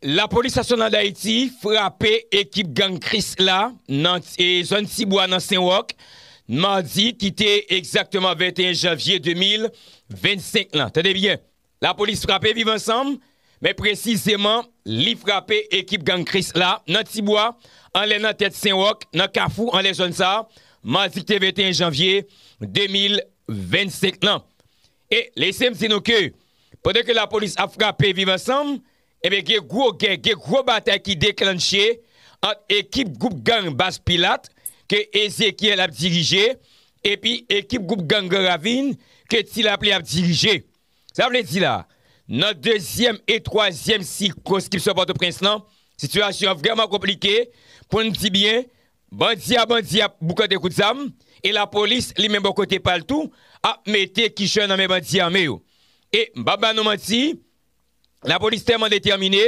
Lapolis Nasyonal Dayiti frape ekip gang Krisla nan zòn Tibwa nan Senwòk madi ki te egzakteman 21 janvye 2025 lan. Tande byen! Lapolis frape Viv Ansanm, men presizeman li frape ekip gang Kris la nan Ti Bwa, anlè nan tèt Sen Wòk, nan Kafou anlè zòn sa, madi ki te 21 janvye 2025 lan. E lese m di nou ke pandan ke lapolis ap frape Viv Ansanm, enben gen gwo gè, gen gwo batay ki deklannche ant ekip gwoup gang Baz Pilat ke Ezéchiel ap dirije epi ekip gwoup gang Gran Ravin ke Ti Lapli ap dirije. Sa vle di la, nan dezyèm e twazyèm sikonskripsyon Pòtoprens lan, sitiyasyon an vrèman konplike, pou n di byen, bandi a bandi ap boukante kout zam, e lapolis li menm bò kote pa l tou, ap mete kichòy nan men bandi ame yo. E m p ap ba nou manti, lapolis tèlman detèmine,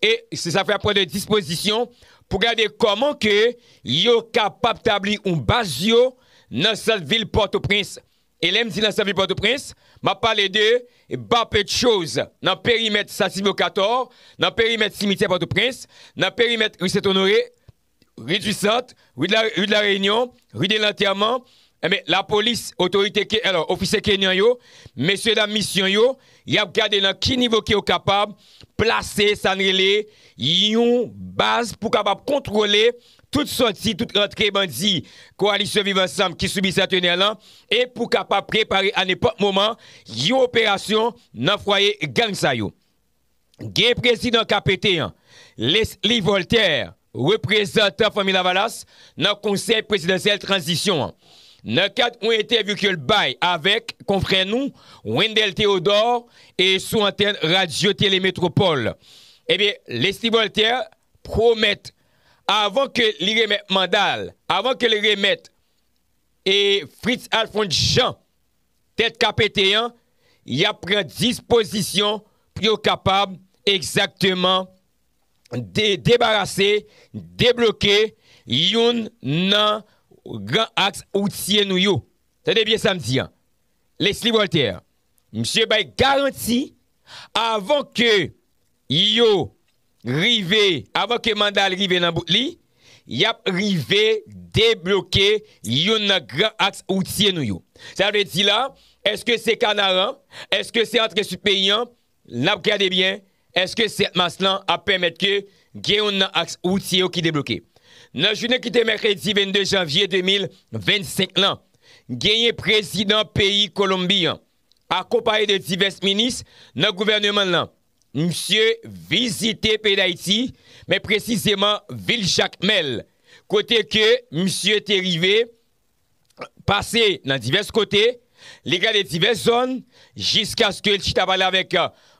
e se sa k fè y ap pran de dispozisyon pou gade kòman ke yo kapab tabli yon baz yo nan sant vil Pòtoprens, E lè m di nan sèvi Pòtoprens, m ap pale de Bapedchoz, nan perimèt Sansibyo Katò, nan perimèt simityè Pòtoprens, nan perimèt ri Sentonore, ri di Sant, ri de la Reyinyon, ri de Lantèman, enben lapolis, otorite ke, alò, ofisye kenyan yo, mesyedam misyon yo, y ap gade nan ki nivo ke yo kapab plase sa n rele yon baz pou kapab kontwole tout sòti, tout rantre bandi Koalisyon Viv Ansanm ki sibi sètenè lan e pou kapab prepare a nenpòt moman yon operasyon nan fwaye gang sa yo. Gen prezidan KPT an, Lesly Voltaire, reprezantan Fanmi Lavalas nan Konsèy Prezidansyèl Tranzisyon an. Nan kad yon entèvyou ke l bay avèk konfrè nou Wendell Théodore e sou antèn Radyo Tele Metropole, ebyen Lesly Voltaire, pwomèt avan ke li remèt manda l, avan ke li remèt e Fritz Alphonse Jean tèt ka pete an, y ap pran dispozisyon pou yo kapab egzakteman debarase, debloke youn nan gran aks woutye nou yo. Tande byen sa m di an. Lesly Voltaire, misye bay garanti avan ke Yo rive, avan ke manda l rive nan bout li, y ap rive debloke youn nan gran aks woutye nou yo. Sa vle di la, èske se Kanaran, èske se antre Sid peyi an, n ap gade byen, èske 7 mas lan ap pèmèt ke gen youn nan aks woutye yo ki debloke. Nan jounen ki te mèkredi 22 janvye 2025 lan, genyen prezidan peyi Kolonbi an, akonpaye de divès minis nan gouvèneman l lan, Misye vizite peyi Dayiti, men presizeman vil Jakmèl, kote ke misye te rive pase nan divès kote, li gade divès zòn, jiskaske li chita pale avèk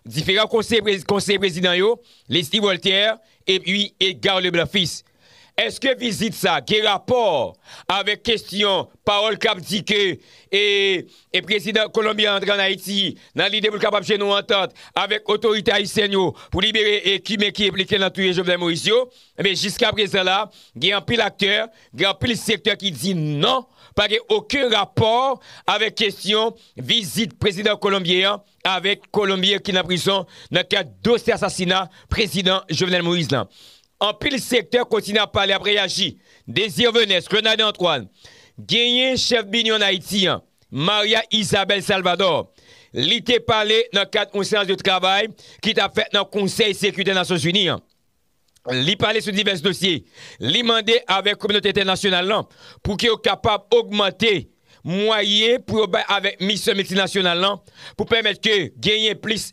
diferan konseye prezidan yo, Leslie Voltaire epi Edgar Leblanc Fils. Eske vizit sa gen rapò avèk kestyon pawòl k ap di ke e prezidan Kolonbi an antre an Ayiti nan lide pou l kapab jwenn yon antant avèk otorite ayisyèn yo pou libere e kimen ki enplike nan touye Jovenel Moïse yo? Ebyen jiska prezan la gen anpil aktè, gen anpil sektè ki di non pa gen oken rapò avèk kestyon vizit prezidan Kolonbyen an avèk Kolonbyen ki nan prizon nan kad dosye asasina prezidan Jovenel Moïse lan. Anpil sektè kontinye ap pale ap reyaji. Désir Venès, Renarde Antoine, genyen chèf Binion Haïti an, Maria Isabelle Salvador, li te pale nan kad yon seyans de travay ki tap fèt nan Konsèy Sekirite Nasyon Zini an. Li pale sou divès dosye. Li mande avèk kominote entènasyonal lan pou ke yo kapab ogmante mwayen pou yo bay avèk misyon miltinasyonal lan pou pèmèt ke genyen plis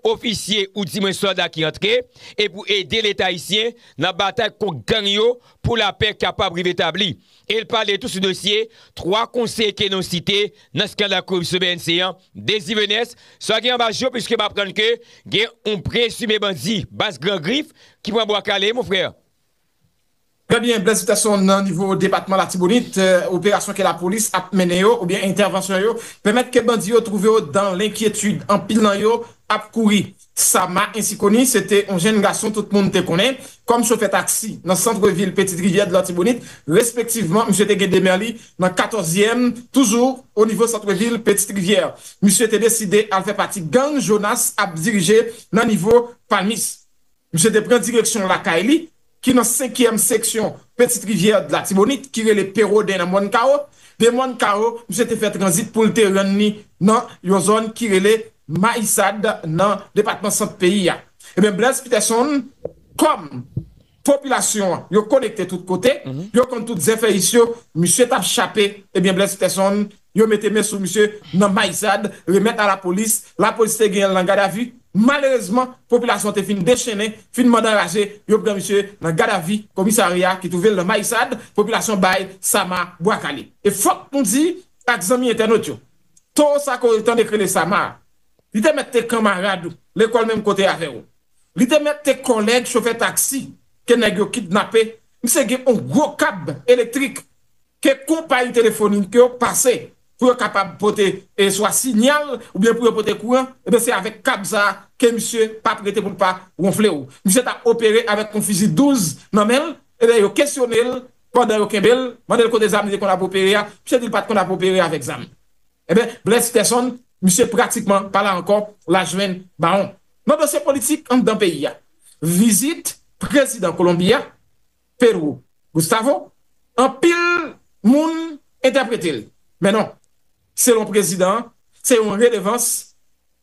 ofisye ou di mwen sòlda ki antre e pou ede leta ayisyen nan batay kont gang yo pou lapè kapab rive tabli. E l pale tou sou dosye 3 konseye ke nou site nan skandal koripsyon bnc an, Désir Venès, sa gen anba jo puiske m aprann ke gen yon prezime bandi baz gran grif ki pran bwa kale mon frè. Trè byen Blaise Peterson nan nivo depatman latibonit operasyon ke lapolis ap mennen yo oubyen entèvansyon yo pèmèt ke bandi yo twouve yo dan lenkyetid anpil nan yo ap kouri Sama Ensikoni se te on jenn gason tout moun te konnen kòm chofè taksi nan santre vil Petite Rivière de l'Artibonite respektivman misye te gen demè li nan katòzyèm toujou o nivo santre vil Petite Rivière misye te deside al fè pati gang Jonas ap dirije nan nivo Palmis. Misye te pran direksyon lakay li ki nan senkyèm seksyon Petite Rivière de l'Artibonite ki rele Peroden nan Mòn Kawo. De Mòn Kawo, misye te fè tranzit pou l te rann li nan yon zòn ki rele Mayisad nan depatman Sant peyi a. Enben, Blaise Peterson, kòm popilasyon an yo konekte tout kote, yo konn tout zèfèyis yo, misye t ap chape, enben Blaise Peterson yo mete men sou misye nan Maizad, remèt a lapolis, lapolis te genyen l nan gadavi, malerezman popilasyon an te fin dechennen, fin mande anraje, yo pran misye nan gadavi komisarya ki twouve l nan Maizad, popilasyon bay Sama bwa kale. E fòk nou di ak zanmi entènot yo, Toro sa ke w te tande k rele Sama a, li te mèt te kanmarad ou lekòl menm kote avè w, li te mèt te kòlèg chofè taksi ke nèg yo kidnape, misye gen on gwo kab elektrik ke konpayi telefonik yo pase pou yo kapab pote swa sinyal oubyen pou yo pote kouran, ebyen se avèk kab sa a ke misye pap rete pou l pa wonfle w. Misye ta opere avèk yon fizi 12 nan men l, ebyen yo kesyone l pandan yo kenbe l, mande l kote zam li te konn ap opere a, misye di l pat konn ap opere avèk zam. Ebyen Bless Stetson, misye pratikman pa la ankò, la jwenn bawon. Nan dosye politik anndan peyi a, vizit prezidan Kolonbi a Pedro Gustavo, anpil moun entèprete l, men non, selon prezidan an, se yon redevans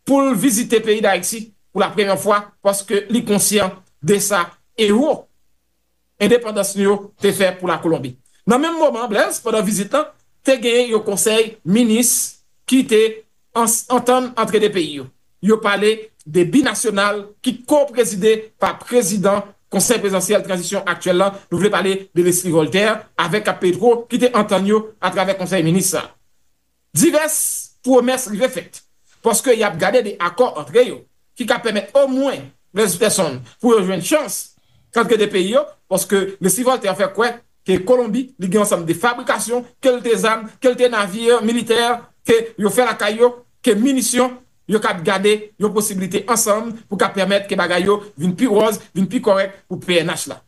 pou l vizite peyi Dayiti pou lapremyè fwa paske li konsyan de sa ewo endepandans nou yo te fè pou Lakolonbi. Nan menm moman, Blaise, pandan vizit lan, te gen yon konsèy minis ki te. ans antann antre 2 peyi yo. Yo pale de binasyonal ki ko-prezide pa prezidan Konsèy Prezidansyèl Tranzisyon aktyèl la, nou vle pale de Leslie Voltaire avèk ak Petro ki te antann yo atravè Konsèy Minis sa. Divès pwomès rive fèt paske y ap gade de akò antre yo. ki ka pèmèt omwen 13 pèsonn pou yo jwenn chans kal kite peyi yo paske resi Voltaire fè kwè ke Kolonbi li gen yon sanm de fabrikasyon kelte zam, kelte navire militè ke yo fè lakay yo ke minisyon yo kab gade yon posibilite ansanm pou ka pèmèt ke bagay yo vin pi wòz, vin pi kòrèk pou pnh la.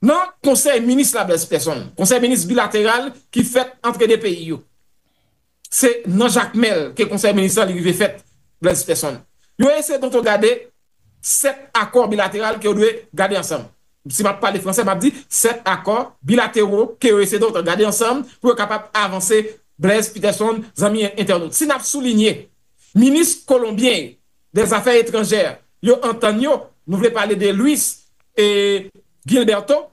Nan konsèy minis la Blaise Persson, konsèy minis bilateral ki fèt antre 2 peyi yo. Se nan Jakmèl ke konsèy minis la li rive fèt, Blaise Persson. Yo eseye tonton gade 7 akò bilateral ke yo dwe gade ansanm. Si m ap pale franse, m ap di 7 akò bilatero ke yo eseye tonton gade ansanm pou yo kapab avanse, Blaise Peterson, zanmi entènot. Si n ap soulinye, minis kolonbyen yo dè zafè etranjè yo antann yo, nou vle pale de Luis Gilberto,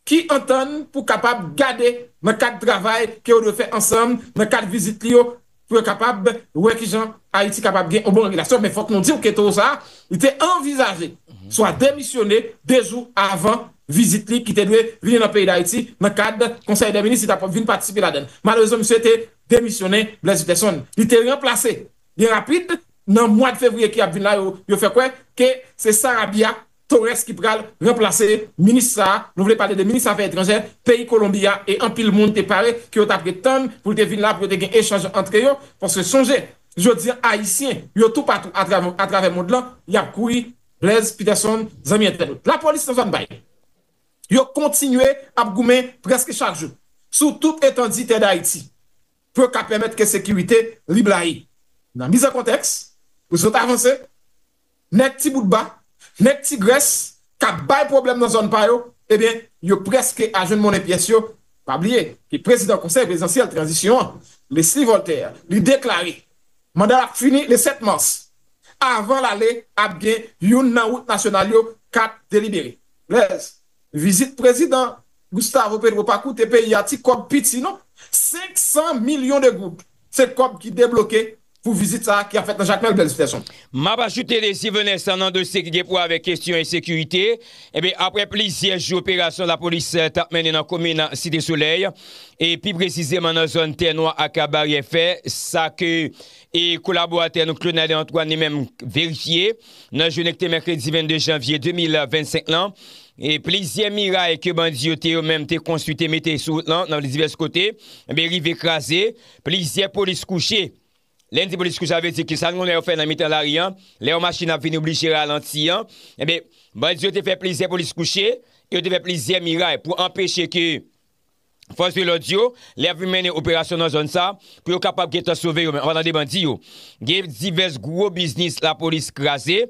ki antann pou kapab gade nan kad travay ke yo dwe fè ansanm nan kad vizit li yo pou yo kapab wè kijan Ayiti kapab gen yon bon relasyon men fòk nou diw ke towo sa li te anvizaje swa demisyone 2 jou avan vizit li ki te dwe vini nan peyi Dayiti nan kad konsèy dè minis li tap vin patisipe ladann malerezman misye te demisyonnen Blaise Utterson li te ranplase byen rapid nan mwad fevriye ki ap vin la yo fè kwè ke se Sarabia Torres ki pral ranplase minis sa a, nou vle pale de minis afè etranjè peyi Kolonbi a e anpil moun te pare ke yo t ap ret tann pou l te vin la pou yo te gen echanj antre yo paske sonje jodi an ayisyen yo toupatou atravè mond lan y ap kouri Blaise Peterson zanmi entènot lapolis nan zòn bay yo kontinye ap goumen prèske chak jou sou tout etandi tè Dayiti pou yo ka pèmèt ke sekirite li blayi nan mizankontèks pou zot avanse. nèg ti bout ba, nèg ti grès k ap bay pwoblèm nan zòn pa yo, ebyen yo prèske a jwenn monnen pyès yo. Pa bliye ke prezidan Konsèy Prezidansyèl Tranzisyon an, Leslie Voltaire, li deklare manda l ap fini le 7 mas. Avan l ale, ap gen youn nan wout nasyonal yo k ap delibere. Blaise. Vizit prezidan Gustavo Petro pa koute peyi a ti kòb piti non. 500 milyon de goud se kòb ki debloke pou vizit sa a ki ap fèt nan Jakmèl Blaise Peterson. M ap ajoute Désir Vincent nan dosye ki gen pou wè avèk kesyon ensekirite. Enben, aprè plizyè jou operasyon lapolis t ap mennen nan komin Site Solèy e pi presizeman nan zòn Tè Nwa ak Baryè Fè, sa ke kolaboratè nou Claude Nader Antoine li menm verifye, Nan jounen ki te mèkredi 22 janvye 2025 lan, plizyè miray ke bandi yo te yo menm te konstwi te mete sou wout lan nan divès kote, enben rive kraze, plizyè polis kouche. Lè n di polis kouche sa vle di ke sa nou konnen yo fè nan mitan lari an, lè yon machin ap vini oblije ralanti an, enben bandi yo te fè plizyè polis kouche, yo te fè plizyè miray pou anpeche ke. Fòs de lòd yo, lè y ap vin mennen operasyon nan zòn sa, pou yo kapab gentan sove yo menm anpatan de bandi yo. Gen divès gwo biznis lapolis kraze,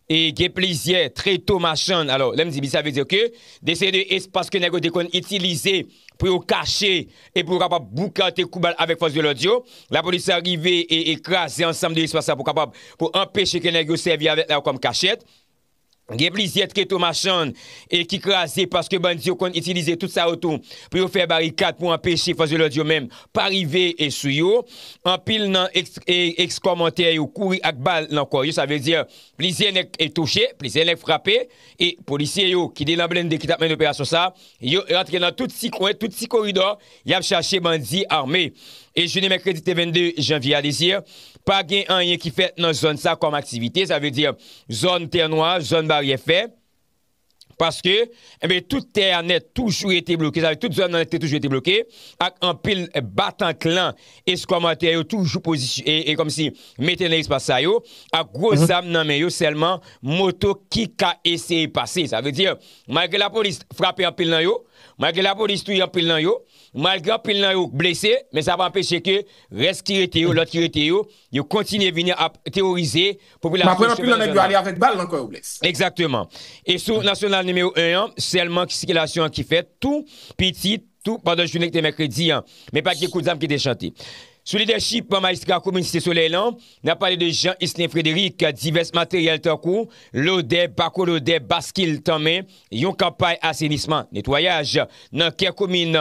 e gen plizyè treto machann, alò, lè m di biznis sa vle di ke de seri de espas ke nèg yo te konn itilize pou yo kache e pou yo kapab boukante kou bal avèk fòs de lòd yo, lapolis sa rive e kraze ansanm de espas sa pou kapab pou anpeche ke nèg yo sèvi avèk la yo kòm kachèt. Gen plizyè treto machann e ki kraze paske bandi yo konn itilize tout sa yo tou pou yo fè barikad pou anpeche fòs de lòd yo menm pa rive sou yo. Anpil nan ex-kòmantè yo kouri ak bal nan kò yo, sa vle di plizyè nèg touche, plizyè nèg frape e polisye yo ki te nan blende ki t ap mennen operasyon sa yo rantre nan tout ti kwen, tout ti koridò. Yap chache bandi arme. E jounen mèkredi te 22 janvye a dezye a, pa gen anyen ki fèt nan zòn sa kòm aktivite, sa vle di zòn tè nwa, zòn baryè fè, paske enben tout tè a nèt toujou rete bloke, sa vle di tout zòn nan nèt te toujou rete bloke ak anpil batan klan eskòmatè yo toujou pozisy e kòm si mete nan espas sa yo ak gwo zam nan men yo sèlman moto ki ka eseye pase. Sa vle di malgre lapolis frape anpil nan yo, Malgre lapolis touye anpil nan yo, malgre anpil nan yo blese, men sa pa anpeche ke rès ki rete yo, lòt ki rete yo, yo kontinye vini ap teworize popilasyon chemen nan zòn nan. Egzakteman. E sou nasyonal nimewo 1 an, sèlman ki sikilasyon an ki fèt tou piti, tou pandan jounen ki te mèkredi an. Men pa t gen kout zam ki te chante. Sou lidèchip majistra komin Site Solèy lan, n ap pale de Jean Isnien Frédéric, divès materyèl tankou lodè, bako lodè, baskil tanmen, Yon kanpay asenisman, netwayaj, nan kè komin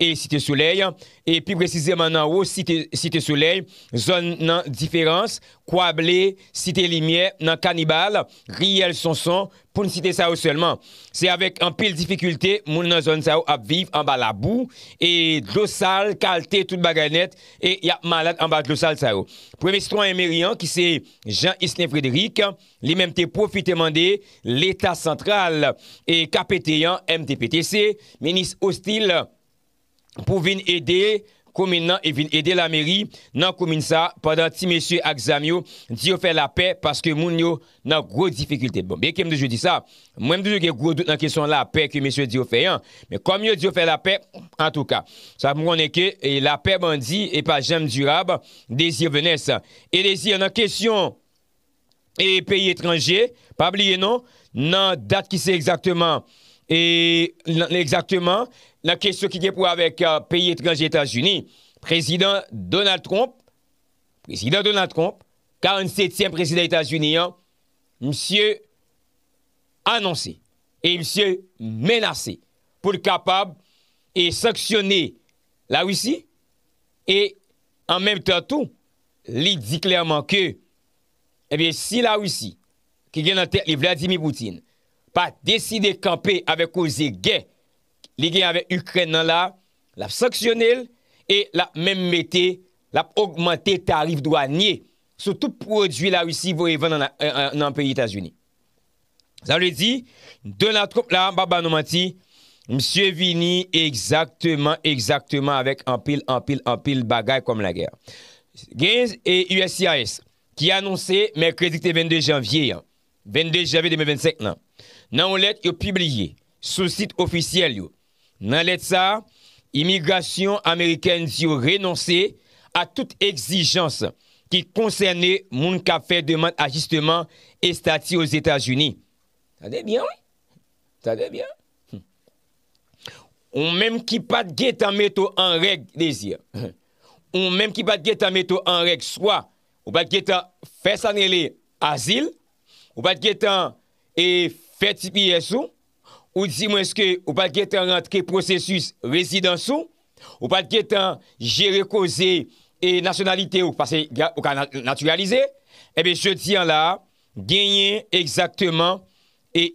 e Site Solèy, e pi presizeman nan wo Site Site Solèy, zòn nan Diferans, Kwa Ble, Site Limyè, nan Kanibal, Riyèl Sonson, pou n site sa yo sèlman. Se avèk anpil difikilte moun nan zòn sa yo ap viv anba labou e dlo sal kalte tout bagay nèt e y ap malad anba dlo sal sa yo. Premye sitwayen meri an ki se Jean Islin Frédéric, Li menm te pwofite mande Leta santral e KPT an, MTPTC, Minis Hostile, pou vin ede komin nan e vin ede lameri nan komin sa pandan ti mesye ak zam yo di yo fè lapè paske moun yo nan gwo difikilte. Bon, byenke m toujou di sa, mwen m toujou gen gwo dout nan kesyon lapè ke mesye di yo fè an, men kòm yo di yo fè lapè, antouka, sa fè m konnen ke lapè bandi e pa janm dirab, Désir Venès. Eliezer, nan kesyon. e peyi etranje pa bliye non nan dat ki se egzakteman e nan egzakteman nan kesyon ki gen pou wè avèk peyi etranje etazini prezidan Donald Trump prezidan Donald Trump 47 tyèm prezidan etazini an misye anonse e misye menase pou l kapab e sanksyone la russie e an menm tan tou li di klèman ke Ebyen si la Risi ki gen nan tèt li Vladimir Poutine pa deside kanpe avèk koze gè li gen avèk Ikrèn nan la, lap sanksyonel e lap menm mete lap ogmante tarif dwanye sou tout pwodwi la Risi voye vann nan peyi Etazini. Sa vle di, Donald Trump la, m pa ba nou manti, misye vini egzakteman, egzakteman avèk anpil, anpil, anpil bagay kòm lagè. Gen uscis ki anonse mèkredi ki te 22 janvye an, 22 janvye 2025 lan, nan yon lèt yo pibliye sou sit ofisyèl yo, Nan lèt sa a, imigrasyon amerikèn di yo renonse a tout egzijans ki konsène moun k ap fè demand ajisteman estati Ozetazini. Tande byen wi! Tande byen! Ou menm ki pa t gentan mete w an règ, Désir, ou menm ki pa t gentan mete w an règ swa ou pa t gentan fè sa n rele azil, ou pa t gentan fè tps ou, Ou di mwen eske ou pat gentan rantre pwosesis rezidans ou? Ou pat gentan jere koze e nasyonalite ou pase ou ka natiralize? Ebyen jodi an la a genyen egzakteman e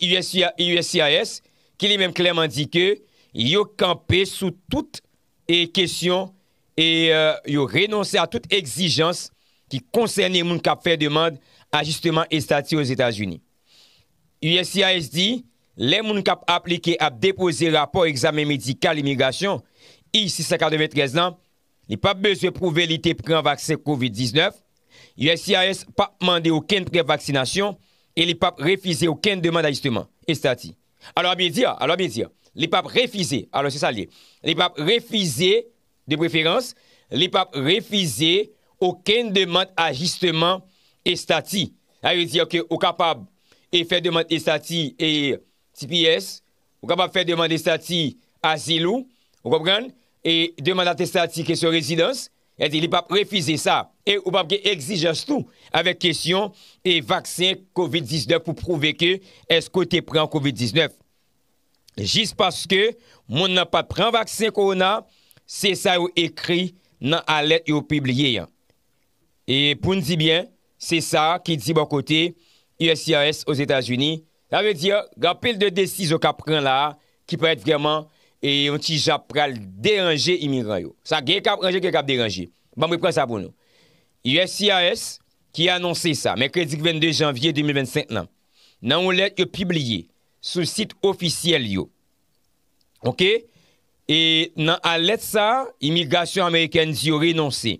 uscis ki li menm klèman di ke yo kanpe sou tout e kesyon e yo renonse a tout egzijans ki konsène moun kap fè demand ajisteman estati Ozetazini. Uscis di, lè moun k ap aplike ap depoze rapò egzamen medikal imigrasyon I-693 lan, li p ap bezwen pwouve li te pran vaksen covid 19, uscis p ap mande okenn prèv vaksinasyon e li p ap refize okenn demand ajisteman estati. Alors, bien dire, alors bien dire, li p ap refize, alors se sa l ye, li p ap refize De preferans, li p ap refize okenn demand ajisteman estati. Sa vle di ke ou kapab e fè demand estati e tps, ou kapab fè demand estati azil ou, ou konprann, e demand atestati kesyon rezidans, sa vle di li p ap refize sa. E ou p ap gen egzijans tou avèk kesyon e vaksen covid 19 pou pwouve ke èske ou te pran covid 19. jis paske moun nan pat pran vaksen kowona, se sa yo ekri nan alèt yo pibliye an. E pou n di byen, se sa ki di bò kote uscis Ozetazini, sa vle di gen anpil de desizyon k ap pran la a ki parèt vrèman yon ti jan ap pral deranje imigran yo. Sa gen k ap ranje, gen k ap deranje. Ban m repran sa pou nou. Uscis ki anonse sa mèkredi 22 janvye 2025 lan, nan yon lèt yo pibliye sou sit ofisyèl yo ok e nan alèt sa imigrasyon amerikèn di yo renonse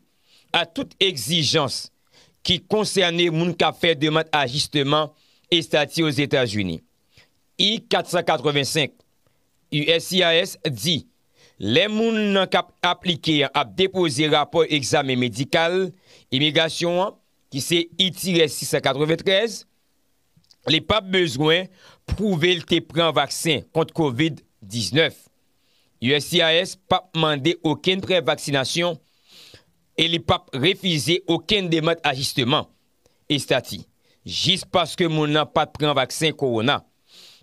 a tout egzijans ki konsène moun kap fè demand ajisteman estati ozetazini I 485 uscis di lè moun nan kap aplike an ap depoze rapò egzamen medikal imigrasyon an ki se itirè 693 li p ap bezwen pwouve l te pran vaksen kont kovid 19. Uscis p ap mande okenn prèv vaksinasyon e li p ap refize okenn demand ajisteman estati jis paske moun nan pa t pran vaksen kowona,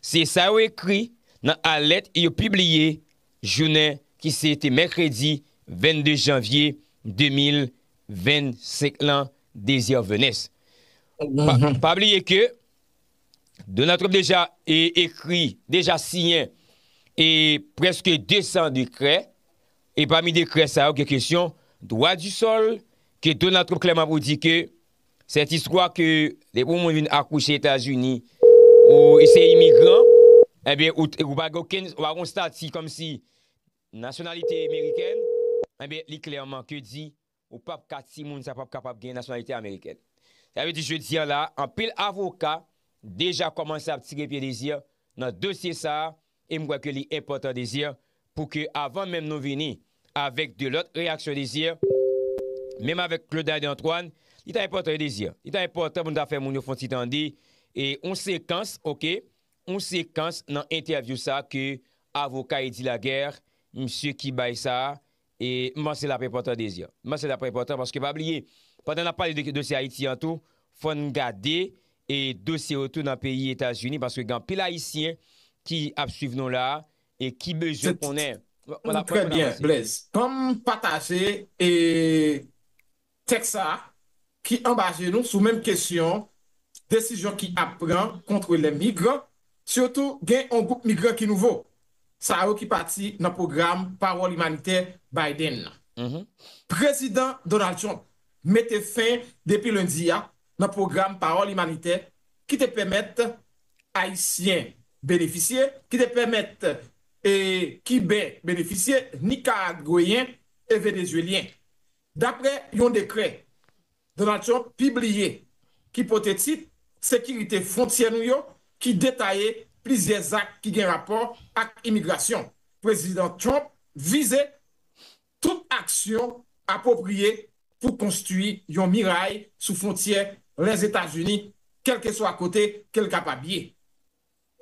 se sa yo ekri nan alèt yo pibliye jounen ki se te mèkredi 22 janvye 2021. 25 lan Desir Venès. Pa bliye ke Donald Trump deja ekri, deja siyen e preske 200 dekrè e pami dekrè sa yo gen kesyon dwa di sol ke Donald Trump klèman pou di ke sèt istwa ke depi yon moun vin akouche Etazini ou se imigran, ebyen ou pa gen okenn, ou pa gen yon stati kòmsi. Nasyonalite meriken, enben li klèman ke di ou pap ka ti moun sa pap kapab gen nasyonalite amerikèn. Sa vle di jodi an la anpil avoka deja kòmanse ap tire pye Désir nan dosye sa e m kwè ke li enpòtan Désir pou ke avan menm nou vini avèk de lòt reyaksyon Désir menm avèk Claudaide Antoine li ta enpòtan wi Désir li ta enpòtan pou nou ta fè moun yo fon ti tande yon sekans ok Yon sekans nan entèvyou sa ke avoka Eddy Laguerre, msye ki bay sa, e m panse l ap enpòtan Désir. M panse l ap enpòtan paske pa bliye, pandan n ap pale de dosye Ayiti an tou, fò n gade e dosye yo tou nan peyi Etazini paske gen anpil Ayisyen ki ap swiv nou la e ki bezwen konnen. Trè byen Blaise. Banm pataje e Tèks sa a, ki anba je nou, sou menm kesyon desizyon ki ap pran kontre lè migran, sitou gen yon gwoup migran ki nouvo, sa yo ki pati nan pwogram pawòl imanitè Biden nan. Prezidan Donald Trump mete fen depi lendi a nan pwogram pawòl imanitè ki te pèmèt Ayisyen benefisye, ki te pèmèt Kiben benefisye, Nikaragweyen e Venezuelyen. Daprè yon dekrè Donald Trump pibliye ki pote tit Sekirite fwontyè nou yo ki detaye plizyè zak ki gen rapò ak imigrasyon, Prezidan Trump vize tout aksyon apwopriye pou konstwi yon miray sou fwontyè Lèzetazini kèlkeswa kote ke l kapab ye.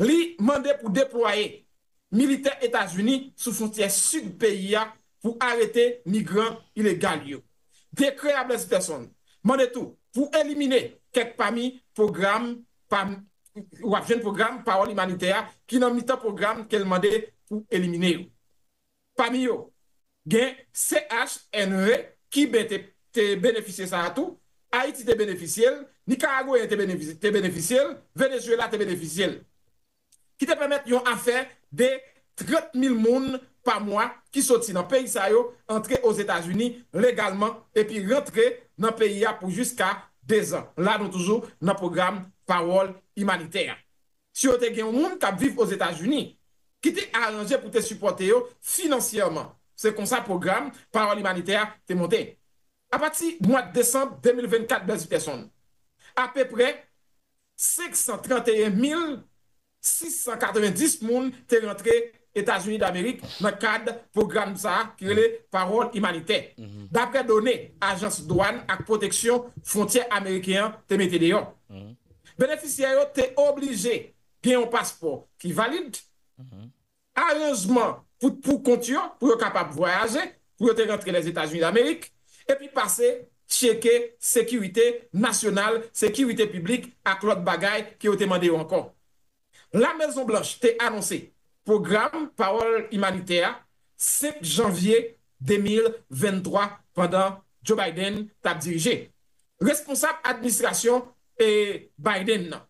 Li mande pou deplwaye militè Etazini sou fwontyè sid peyi a pou arete migran ilegal yo. Dekrè a Blaise Peterson mande tou pou elimine kèk pami pwogram pa wap jwenn pwogram pawòl imanitè a ki nan mitan pwogram ke l mande pou elimine yo. Pami yo, gen CH. Henry ki ben te te benefisye sa a tou, Ayiti te benefisye l, Nikaragweyen te benefisye te benefisye l, Venezuela te benefisye l. Ki te pèmèt yon afè de 30 mil moun pa mwa ki soti nan peyi sa yo antre Ozetazini legalman epi rantre nan peyi a pou jiska dezan. La nou toujou nan pwogram Pawòl Imanitè a. Si yo te gen yon moun k ap viv Ozetazini ki te aranje pou te sipòte yo finansyèman, se konsa pwogram Pawòl Imanitè a te monte. Apati mwad desanm 2024 Bèze Tèson, apeprè 531 mil 690 moun te rantre Etazini Damerik nan kad pwogram sa a ki rele Pawòl Imanitè, dapre done Ajans Dwàn ak Pwoteksyon Fwontyè Ameriken an te mete deyò. Benefisyè yo te oblije gen yon paspò ki valid, aranjman pou poukont yo pou yo kapab vwayaje pou yo te rantre Lèzetazini Damerik, epi pase tcheke sekirite nasyonal, sekirite piblik ak lòt bagay ke yo te mande yo ankò. La Mezon Blanch te anonse pwogram pawòl imanitè a 5 janvye 2023 pandan Joe Biden t ap dirije. Responsab administrasyon Biden nan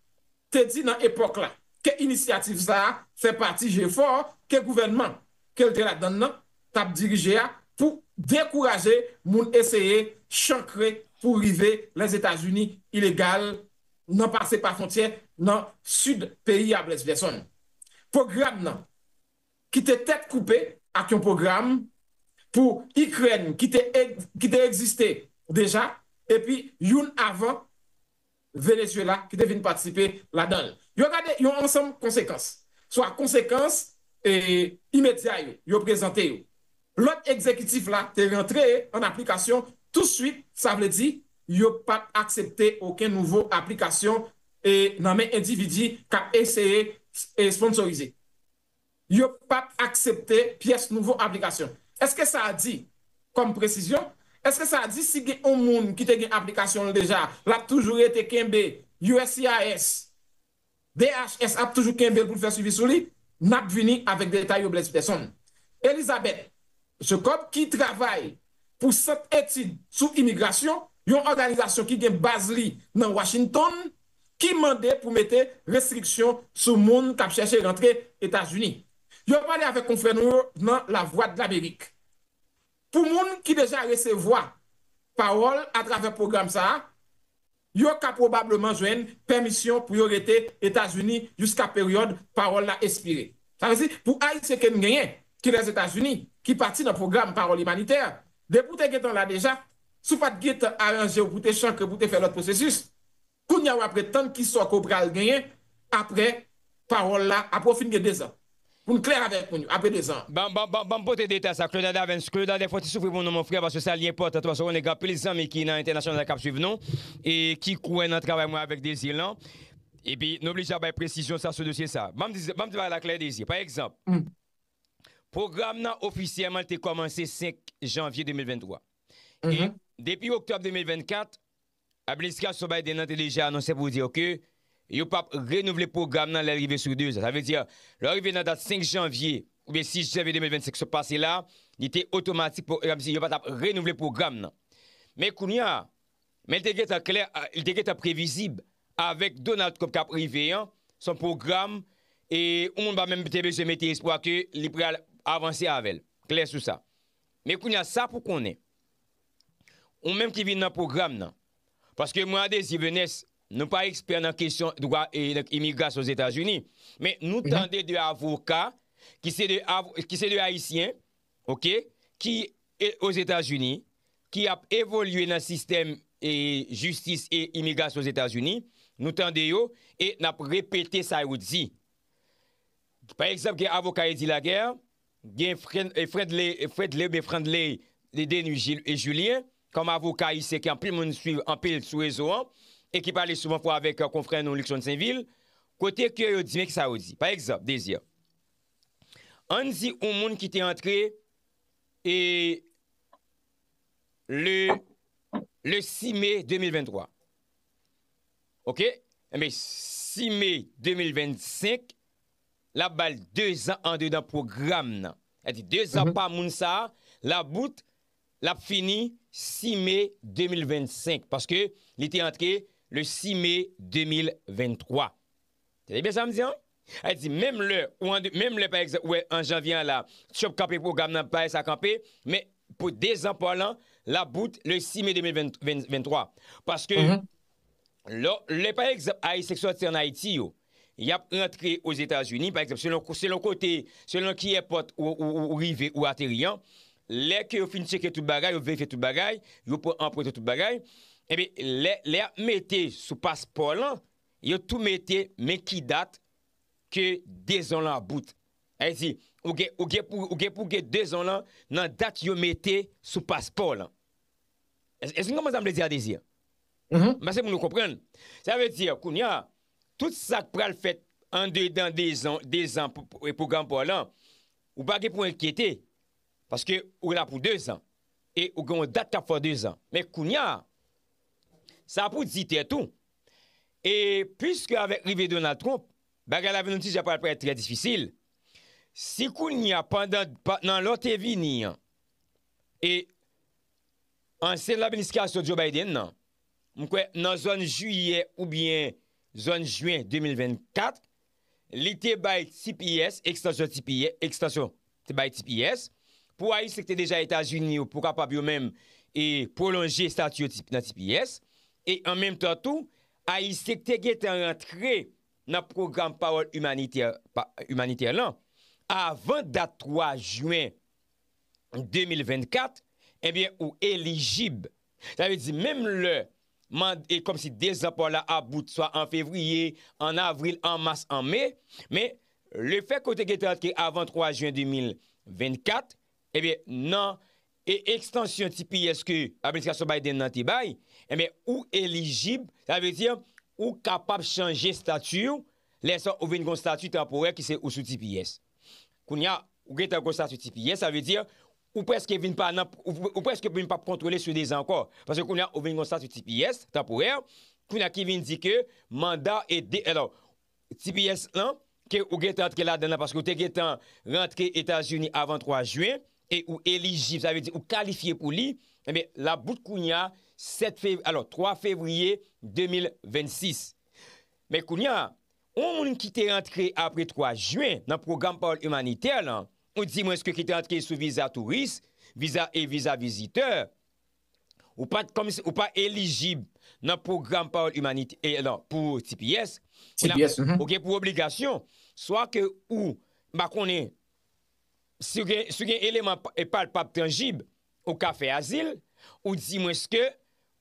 te di nan epòk la ke inisyativ sa a fè pati jefò ke gouvènman ke l te ladann nan t ap dirije a pou dekouraje moun eseye chankre pou rive Lèzetazini ilegal nan pase pa fontyè nan sid peyi a Brest Gerson. Pwogram nan ki te tèt koupe ak yon pwogram pou Ikrèn ki te egziste deja epi youn avan Venezuela ki te vin patisipe ladan l. Yo gade yon ansanm konsekans, swa konsekans imedya yo, yo prezante yo. Lòd egzekitif la te rantre an aplikasyon tousuit, sa vle di yo pap aksepte oken nouvo aplikasyon nan men endividi k ap eseye esponsorize. Yo pap aksepte pyès nouvo aplikasyon. Eske sa a di, kòm presizyon, eske sa a di si gen on moun ki te gen aplikasyon l deja, l ap toujou rete kenbe uscis DHS ap toujou kenbe l pou l fè swivi sou li, n ap vini avèk detay yo Blaise Peson. Elizabeth Jacob ki travay pou Sant Etid sou Imigrasyon, yon òganizasyon ki gen baz li nan Washington, ki mande pou mete restriksyon sou moun k ap chèche rantre Etazini. Yo pale avèk konfrè nou yo nan Lavwadlamerik. Pou moun ki deja resevwa pawòl atravè pwogram sa a, yo ka pwobableman jwenn pèmisyon pou yo rete Etazini jiska peryòd pawòl la espire. Sa vle di, pou Ayisyen ke n genyen ki Lèzetazini, ki pati nan pwogram pawòl imanitè, depi w te gentan la deja, si w pa t gentan aranje w pou w te chankre pou w te fè lòt pwosesis, Kounye a wap ret tann kisa ke w pral genyen apre pawòl la, apre w fin gen 2 zan. Pou n klè avèk moun yo, apre 2 zan an. Ban, ban, ban, ban m pote deta sa, Claude Adavens, Claude Adè fon ti soufri pou nou mon frè paske sa li enpòtan tou paske konnen gen anpil zanmi ki nan entènasyonal la kap swiv nou e ki kwè nan travay mwen avèk Desir lan epi nou oblije ap bay presizyon sa sou dosye sa. Ban m di, ban m di bagay la klè Desir, pa egzanp, pwogram nan ofisyèman li te kòmanse 5 janvye 2023 e depi oktòb 2024 Administrasyon Biden nan te deja anonse pou di yo ke yo pap renouvle pwogram nan lè l rive sou 2 zan. Sa vle di, lè w rive nan dat 5 janvye oubyen 6 janvye 2025 sot pase la, li te otomatik pou yo di yo pa t ap renouvle pwogram nan. Men kounye a, men li te gentan klè, li te gentan previzib avèk Donald Trump k ap rive an, s on pwogram e yon moun pa menm te bezwen mete espwa ke li pral avanse avè l. Klè sou sa. Men kounya sa pou konnen, ou menm ki vin nan pwogram nan, paske mwen Adésir Venès, nou pa ekspè nan kesyon dwa imigrasyon Ozetazini, men nou tande 2 avoka ki se 2 Ayisyen, ok, ki Ozetazini, ki ap evolye nan sistèm jistis e imigrasyon Ozetazini, nou tande yo e n ap repete sa yo di. Pa egzanp gen avoka Eddy Laguerre, Gen Fredley oubyen Frandley Denis Julien kòm avoka ayisyen ke anpil moun swiv anpil sou rezo an e ki pale souvan fwa avèk konfrè nou Luckson Sainvil, kote ke yo di men ki sa yo di. Pa egzanp, Desir, ann di yon moun ki te antre e le le 6 me 2023 ok, enben 6 me 2025 lap bal 2 zan andedan pwogram nan sa di 2 zan pa moun sa labout lap fini 6 me 2025 paske li te antre le 6 me 2023 tande byen sam di an sa di menm lè ou ande menm lè pa egzanp ou wè an janvye an la trump kanpe pwogram nan bay sa kanpe men pou 2 zan pa w lan labout le 6 me 2023 paske Lò, lè pa egzanp Ayisyen ki sòti an Ayiti yo, y ap rantre Ozetazini, pa egzanp, selon, selon kote, selon ki èpòt ou rive, ou ateri an, lè ke yo fin tcheke tout bagay, yo verifye tout bagay, yo pran anprent ou tout bagay, enben, lè, lè y ap mete sou paspò w lan, yo tou mete men ki dat ke 2 zan w lan ap bout. Sa vle di, ou gen, ou gen pou, ou gen pou gen 2 zan w lan nan dat yo mete sou paspò w lan. Èske nou konprann sa m vle di a, Désir? M panse moun yo konprann. Sa vle di, kounye a, tout sa k pral fèt andedan dezan pwogram pa w lan, ou pa gen pou w enkyete, paske ou la pou dezan. E ou gen yon dat k ap fè w dezan. Men kounye a, sa pou w di tèt ou, e piske avèk rive Donald Trump, bagay la vin nou di jan pral parèt trè difisil, si kounye a pandan nan lò te vini an, e Ansyen nan administrasyon Joe Biden nan, m kwè nan zòn jiyè oubyen zòn jwen 2024, li te bay tps, ekstansyon tps, ekstansyon, te bay tps, pou Ayisyen ki te deja Etazini yo pou kapab yo menm e pwolonje estati yo nan tps, e an menm tan tou, Ayisyen ki te gentan rantre nan pwogram pawòl imanitè, imanitè lan, avan dat 3 jwen 2024, ebyen ou elijib. Sa vle di menm lè mand, e kòm si 2 zan pa w la about swa an fevriye, an avril, an mas, an me, men le fè ke w te gen tan antre avan 3 jen 2024, ebyen nan e ekstansyon tps ke administrasyon Biden nan te bay, ebyen ou elijib, sa vle di ou kapab chanje stati w, lè sa ou vin gen yon stati tanporè ki se ou sou tps. Kounya ou gentan konsa sou ti piye sa vle di ou preske vin pa nan ou preske vin pap kontwole sou 2 zan ankò paske kounya ou vin konsa sou ti piye tanporè kounya ki vin di ke manda e de alò ti piye lan ke ou gentan antre ladan nan paske ou te gentan rantre etazini avan 3 jyen e ou elijib sa vle di ou kalifye pou li ebyen lap bout kounya 7 fe alò 3 fevriye 2026 men kounya. Yon moun ki te rantre apre 3 jen nan pwogram pawòl imanitè lan, ou di mwens ke ki te rantre sou viza touris, viza e viza vizitè, ou pa t kòmsi ou pa elijib nan pwogram pawòl imanitè e lan pou tps, ou nan TPS, mhm. ou gen pou obligasyon swa ke ou m pa konnen si w gen si w gen eleman palpab tanjib ou ka fè azil, ou di mwens ke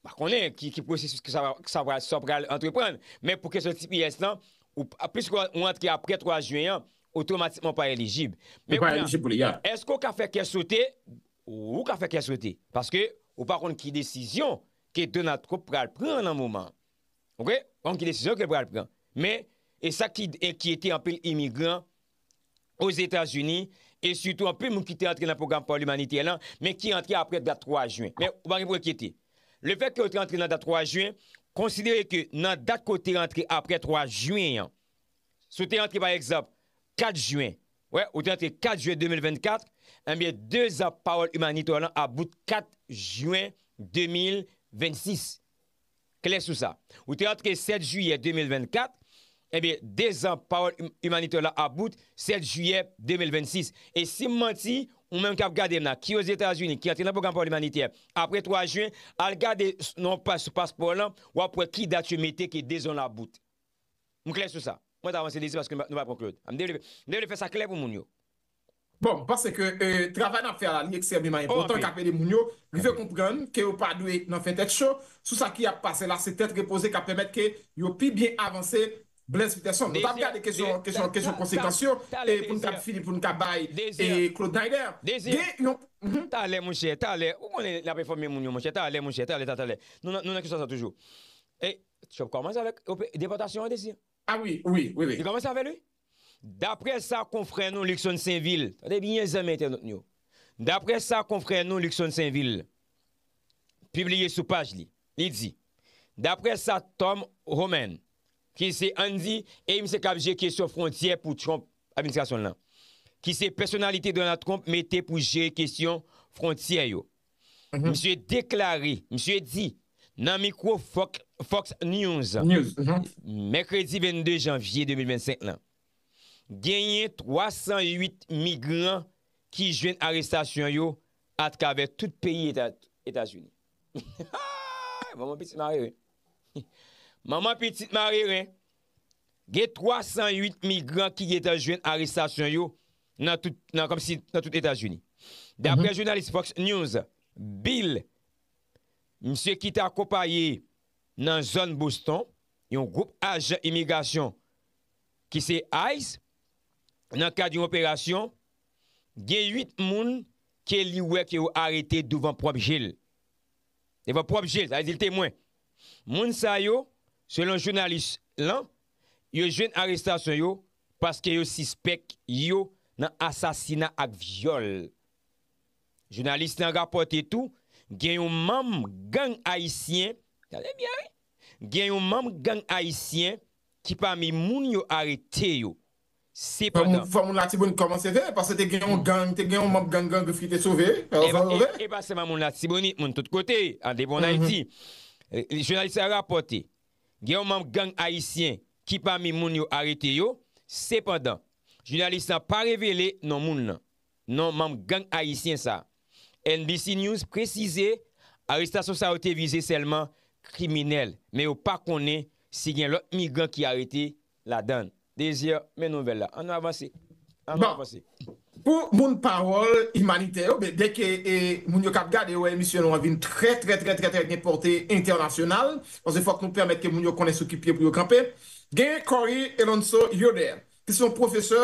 Pa konnen ki pwosesis ke sa pral antreprann, men pou kesyon tps lan, piske ou antre apre 3 jen an, otomatikman ou pa elijib. Ou pa elijib pou li ya. Eske ou ka fè kè sote? Ou ka fè kè sote. Paske ou pa konn ki desizyon ke Donald Trump pral pran nan moman an. Ok? Ou pa konn ki desizyon ke l pral pran. Men, e sa ki enkyete anpil imigran Ozetazini, e sitou anpil moun ki te antre nan pwogram pawòl imanitè lan, men ki antre aprè dat 3 jen. Men, ou pa gen pou enkyete. Lefèt ke yo te antre nan dat 3 jen, konsidere ke nan dat ke w te antre aprè 3 jen an, si w te antre pa egzanp 4 jen, wè, ou te antre 4 jen 2024, enbyen, 2 zan pawòl imanitè w lan ap bout 4 jen 2026. klè sou sa. Ou te antre 7 jiyè 2024, ebyen dezan pawòl imanitè w la ap bout 7 jiyè 2026. E si m manti, ou menm k ap gade m la, ki ozetazini, ki antre nan pwogram pawòl imanitè apre 3 jen, al gade nan yon paj sou paspò w lan, w ap wè ki dat yo mete ke dezan w la bout. M klè sou sa. Mwen ta vanse dezi paske nou pa pran Claude. M te vle fè sa klè pou moun yo. Bon, m panse ke travay n ap fè a la li ekstrèmeman enpòtan k ap ede moun yo rive konprann ke yo pa dwe nan fè tèt cho sou sa ki ap pase la, se tèt repoze k ap pèmèt ke yo pi byen avanse Blaise Peterson. Nou t ap gade kesyon kesyon konsekans yo e pou n kab fini pou n ka bay Claude Naider gen yon Désir, talè monchè, talè ou konnen n ap enfòme moun yo monchè, talè monchè, talè ta talè nou nan nou nan kesyon sa toujou e Trump kòmanse avèk depòtasyon an Désir. A wi, wi, wi, wi. Li kòmanse avè l wi. Daprè sa konfrè nou Luckson Senvil, tande byen zanmi entènot nou yo, daprè sa konfrè nou Luckson Senvil pibliye sou paj li, li di, daprè sa Tom Homan ki se ann di e misye kap jere kesyon fwontyè pou Trump administrasyon l lan, ki se pèsonalite Donald Trump mete pou jere kesyon fwontyè yo. Misye deklare, misye di nan mikwo Fox News mèkredi 22 janvye 2025 lan, genyen 308 migran ki jwenn arestasyon yo atravè tout peyi Etazini. Manman pitit mareren. Manman pitit mareren. Gen 308 migran ki gentan jwenn arestasyon yo nan tout Etazini. Daprè jounalis Fox News Bill, misye ki te akonpaye nan zòn Boston yon gwoup ajan imigrasyon ki se ice nan kad yon operasyon, gen 8 moun ke li wè ke yo arete douvan pwòp je l. Devan pwòp je l, sa vle di l temwen. Moun sa yo, selon jounalis lan, yo jwenn arestasyon yo Paske yo sispèk yo nan asasina ak vyòl. Jounalis lan rapòte tou gen yon manm gang ayisyen, tande byen wi, gen yon manm gang ayisyen ki pami moun yo arete yo. Sepandan. Fò moun Latibonit kòmanse veye paske te gen yon gang, te gen yon manm gang Gran Grif ki te sove wi. Sa yo vle? E pa sèlman moun Latibonit, moun tout kote, an debon Ayiti. Jounalis la rapòte gen yon manm gang ayisyen ki pami moun yo arete yo, sepandan, jounalis lan pa revele non moun lan, non manm gang ayisyen sa. NBC News presize arestasyon sa yo te vize sèlman kriminèl, men yo pa konnen si gen lòt migran ki arete ladan. Désir, men nouvèl la. An nou avanse. An nou avanse. Pou moun pawòl imanitè yo ben dèke moun yo kap gade yo wè emisyon nou an vin trè trè trè trè trè gen pòte entènasyonal paske fòk nou pèmèt ke moun yo konnen sou ki pye pou yo kanpe genyen Corey Elonso Yoder ki se yon pwofesè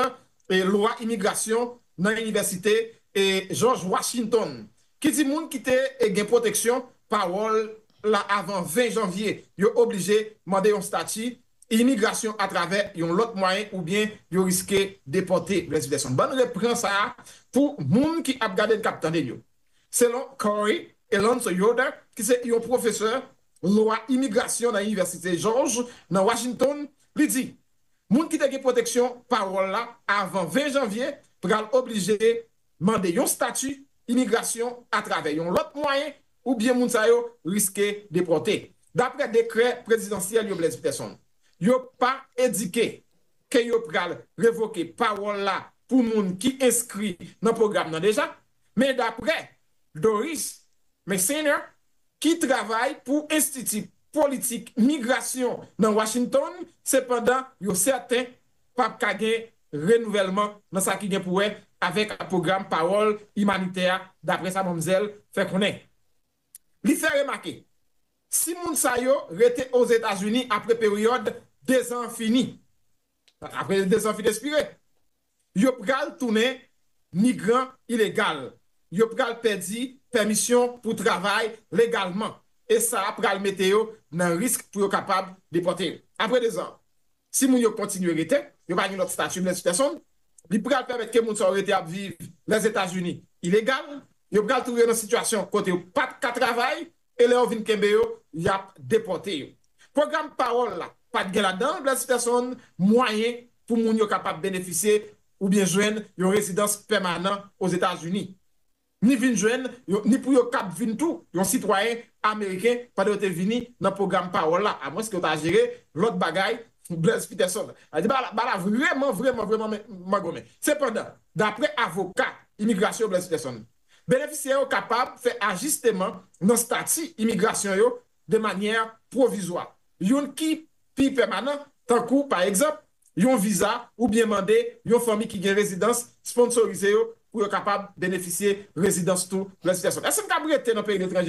lwa imigrasyon nan inivèsite Jòj Wachintonn ki di moun ki te gen pwoteksyon pawòl la avan 20 janvye yo oblije mande yon stati imigrasyon atravè yon lòt mwayen oubyen yo riske depòte vs vèsyon bann repran sa a pou moun ki ap gade n k ap tande n yo selon Corey Alonso Yoder ki se yon pwofesè lwa imigrasyon nan inivèsite Jòj nan Washington li di moun ki te gen pwoteksyon pawòl la avan 20 janvye pral oblije mande yon stati imigrasyon atravè yon lòt mwayen oubyen moun sa yo riske depòte. Daprè dekrè prezidansyèl yo Blaise Peterson, yo pa endike ke yo pral revoke pawòl la pou moun ki enskri nan pwogram nan deja, men daprè Doris Meissner ki travay pou Enstiti Politik Migrasyon nan Washington, sepandan yo sèten pap ka gen renouvèlman nan sa ki gen pou wè avèk pwogram pawòl imanitè a, daprè sa manmzèl fè konnen. Li fè remake, si moun sa yo rete Ozetazini apre peryòd dezan an fini, apre dezan fin espire, yo pral tounen migran ilegal, yo pral pèdi pèmisyon pou travay legalman, e sa pral mete yo nan risk pou yo kapab depòte yo apre dezan an. si moun yo kontinye rete, yo pa gen lòt stati blèz pèsonn, li pral pèmèt ke moun sa yo rete ap viv Lèzetazini ilegal, yo pral touve yo nan sitiyasyon kote yo pa t ka travay, e lè yo vin kenbe yo, y ap depòte yo. Pwogram Parole la pa t gen ladan l, blèz pèsonn, mwayen pou moun yo kapab benefisye oubyen jwenn yon rezidans pèmanan Ozetazini. ni vin jwenn yo, ni pou yo kab vin tou yon sitwayen ameriken pandan yo te vini nan pwogram pawòl la, amwenske yo ta jere lòt bagay, Blaise Peterson. A di ba la vreman, vreman, vreman mangonnen. Sepandan, dapre avoka imigrasyon Blaise Peterson, benefisyè yo kapab fè ajisteman nan stati imigrasyon yo de manyè pwovizwa, youn ki pi pèmanan, tankou, pa egzanp, yon viza oubyen mande yon fanmi ki gen rezidans sponsorize yo pou yo kapab benefisye rezidans tou lè sitiyasyon. Èske m kab rete nan peyi letranje?